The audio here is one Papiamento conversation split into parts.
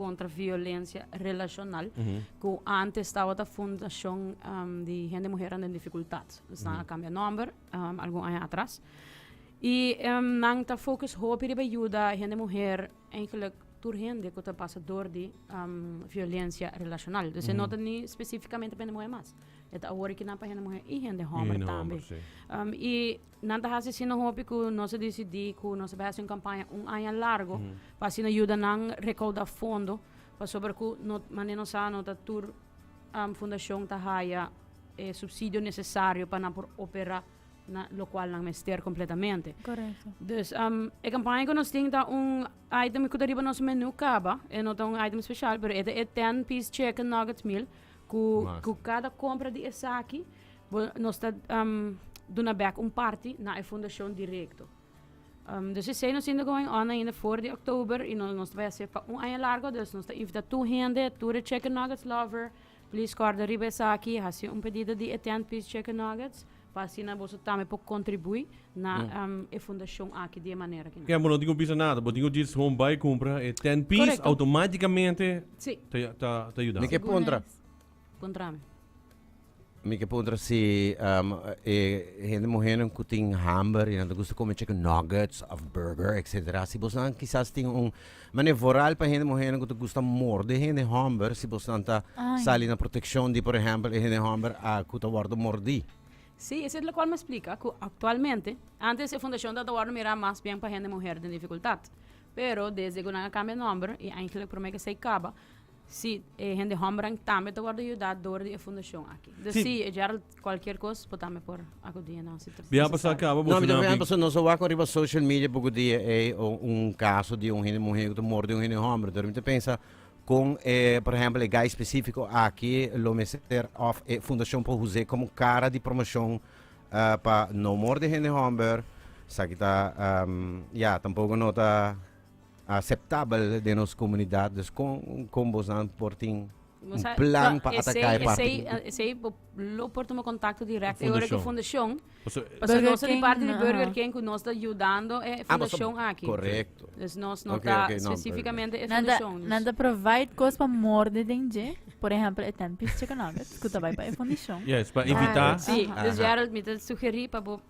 contra violencia relacional cu antes tabata fundacion di hende muhernan den dificultad esnan a cambia nomber algun aña atras y nan ta focus hopi riba yuda hende muher eigenlijk tur hende cu ta pasa dor di violencia relacional dus e no ta ni specificamente pa hende muher mas e ta awor e kinan pa hende muher y hende homber tambe y. Nan ta hasi asina hopi ku nos a disidí ku nos ta bai hasi un kampaña un aña largu pa asina yuda nan rekaudá fondo pasobra ku no mane no sa no ta tur fundashon ta haya e supsidio nesesario pa nan por operá na lokual nan mester kompletamente. Dus e kampaña ku nos tin ta un item ku ta riba nos menú kaba e no ta un item speshal pero e ta e ten piece chicken nuggets meal Cu, cu cada compra di esaki, bo, nos ta um, duna bek un parti na e fundacion directo. Um, dus esei nos inda going on ainda voor di oktober y no, nos ta bay hasi pa un aña largo, dus nos ta invita tur hende, tur e chicken nuggets lover, please corda riba esaki, hasi un pedido di e ten piece chicken nuggets. pa asina boso tambe por contribui na e fundacion aki di e manera aki. Ken bo no tin cu bisa nada, bo tin cu djis home bay cumpra e ten piece automaticamente ta yuda. Mi ke puntra. Puntra mi. Mi ke puntra si e hende muhernan cu tin hamber y nan ta gusta come chicken nuggets of burger etc. Si bos nan kisas tin un Mane voral pa hende muhénan ku ta gusta morde hende hòmber si bos nan ta sali na protekshon di por ehèmpel e hende hòmber ku ta wòrdu mordí. Sí, esei lokual mi a splika ku aktualmente, antes e fundashon ta wòrdu mirá mas bièn pa hende muher den difikultat, pero desde ku nan a kambia nòmber i eintlek promé ke esei kaba, Sí, e hende hòmbernan tambe ta wòrdu yudá dor di e fundashon akí. Dus sí, e Gerald kualkier kos bo tambe por akudí nan si ta nesesario. No, mi ta mira hèmpel, si nos a wak riba social media por kudí e un kaso di un hende muhé ku ta mordu di un hende hòmber. Enton mi ta pensa kon e, por ehèmpel, e guy spesífiko akí lo mester òf e fundashon por huz'é komo kara di promoshon pa no mordu hende hòmber. Esaki ta, ya, tampoko no ta. aceptabel den nos comunidad dus con con bosnan por tin un plan pa ataca e parti esey lo por tuma contacto direct e ora cu fundacion pasobra nos ta di parti di burger king cu nos ta yudando e fundacion aki correcto dus nos no ta specificamente e fundacion nan ta provide cos pa morde den dje por ehemplo e ten piece chicken nuggets cu ta bay pa e fundacion yes pa evita si dus Gerald mi ta sugeri pa bo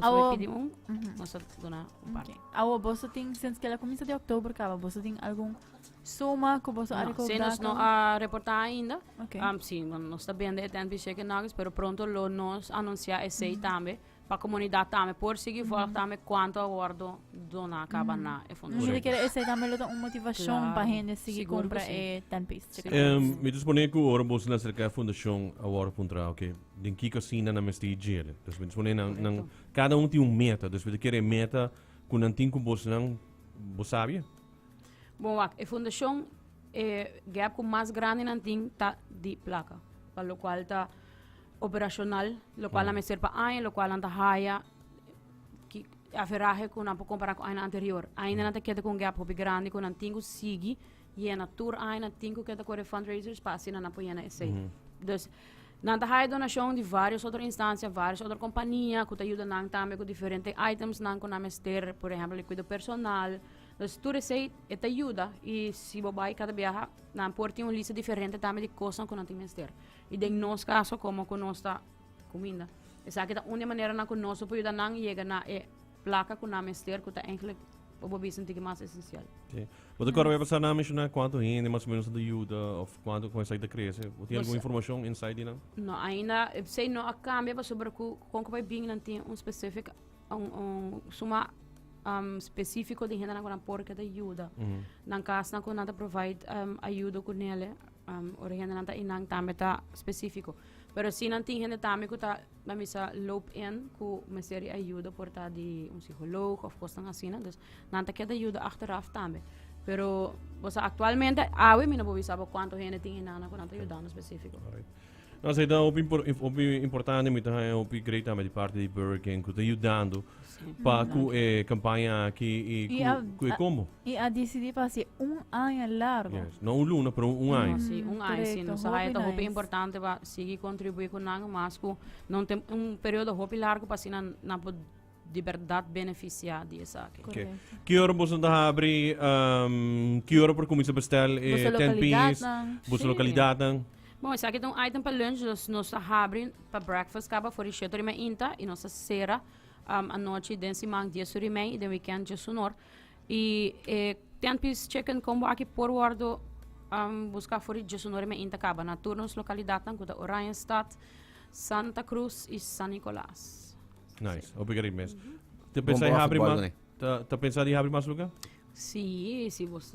Awo, awo boso tin sints ke la kuminsa di oktober kaba boso tin algun suma ku boso a rekaudá? No, si nos no a reportá ainda. Okay. Um, si, bueno, nos ta bende e tènt di chicken nuggets, pero pronto lo nos anunsiá esei tambe pa komunidat tambe por sigui vòlg tambe kuantu a wòrdu doná kaba na e fundacion. Correcto. Mi ta kere esei tambe lo ta un motivashon Claro. pa hende sigui Sigur ku kumpra si. e tènt pis. Em, mi ta suponé ku ora boso na aserká e fundacion a wòrdu puntrá, oké, den kiko asina nan mester e djere. Despues nan pone nan, nan, cada un tin un meta, despues de kere meta cu nan tin cu bosnan, bo sabia? Bon, wak, e fundacion, e gap cu mas grandi nan tin ta di placa, pa lo cual ta operacional, lo cual nan mester pa aña, lo cual nan ta haya ki, aferahe cu nan por compara cu aña anterior. Ainda nan ta keda cu un gap hopi grandi cu nan tin cu sigui yena tur aña, nan tin cu keda cu e fundraisers pa asina nan por yena esey. Dus, Nan ta haya donashon di vários otro instancia, vários otro kompania ku ta yuda nan tambe ku diferente itemsnan ku nan mester, por ehèmpel di kuido personal. Pues tur esei e ta yuda i si bo bai kada biaha nan por tin un lista diferente tambe di kosnan ku nan tin mester. I den nos kaso, komo ku nos ta kuminda, esaki ta un di e maneranan ku nos lo por yuda nan yega na e Plaka ku nan mester ku ta enklik pa bo bisa ntiki mas esensial. Sí. Bo ta kòrda pasá nan menshoná kuantu hende mas o menos a ta yuda òf kuantu ku esaki ta krese? Bo tin algun informashon, insight di nan? No, ainda esei no a kambia pasobra ku kon ku bai bin nan tin un spesifik un un suma um spesifiko di hendenan ku nan por keda yuda. Nan kasnan ku nan ta provide um ayudo ku nele um ora hendenan ta einan tambe ta spesifiko. Pero si nan tin hende tambe ku ta nan mester a loop in cu mester di ayuda por ta di un psiholoog of cosnan asina dus nan ta kier ta yuda achteraf tambe pero bo sa actualmente awe mi no por bisa bo cuanto hende tin hinan nan cu nan ta yudando specifico. No, so ta hopi impor- inf- hopi importante mi ta haña hopi grei tambe di parte di Burger King ku ta yudando pa ku e kampaña aki i I ku a- ku e a- kombo. Y a decidí para hacer un año largo. Yes. No un luna, pero un No, año. si un ay si Correcto, nos sa hopi haya ta hopi nice. importante pa Sigui kontribuí ku nan mas ku no tem un periodo hopi largu pa asina nan por di bèrdat benefisiá di esaki. Ok. Korekto. Ki ora boso ta habri? am, ki ora por kuminsá bèstèl e Boso ten piece? lokalidatnan. Boso Sí. lokalidatnan? Bon, esaki ta un item pa lunch, dus nos ta habri pa breakfast kaba for di shèt ora i mei inta i nos ta sera am anochi den siman dies ora i mei i den wikènt djes un or. I e ten pis chicken combo aki por wordo am buska for di djosu nore me inta kaba na tur nos lokalidatnan ku ta Oranjestad, Santa Cruz i San Nicolas. Nice, hopi gari mes. Ta Bon pensá di por haci habri por algo, mas? né? Ta, ta pensá di habri mas lugar? Sí, si bos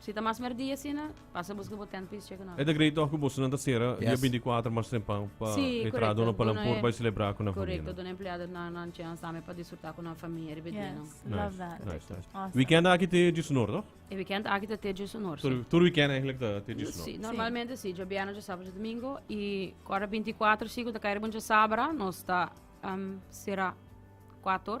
Si ta mas merdi asina, pasa busca bo tent pa is checa nan. E ta grei toch cu bosonan ta cera dia binti cuater mas tempan pa entra duna pa nan por bay celebra cu nan famia. Correcto, duna empleado nan nan chance tambe pa disfruta cu nan famia riba e dia nan. Yes, love that. Nice, nice, nice. Awesome. Weekend aki te djis honor toch? E weekend aki ta te djis honor, si. Tur weekend eigenlijk ta te djis honor. Si, normalmente si, dje bierna, dje sabado, dje domingo y cu ora binti cuater si cu ta cay riba un dje sabra nos ta cera cuator.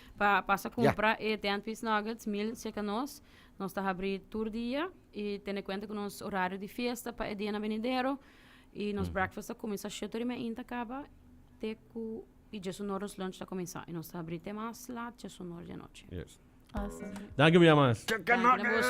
Pa pasa compra e Dentwis Nuggets mil cerca nos. Nos ta habri tur dia y tene cuenta cu nos horario di fiesta pa e dianan venidero. Y nos breakfast ta cuminsa shete ora y media ta caba te cu y dies y nor nos lunch ta cuminsa. Y nos ta habri te mas laat dies y nor di anochi. Danki Biamas. Danki na boso.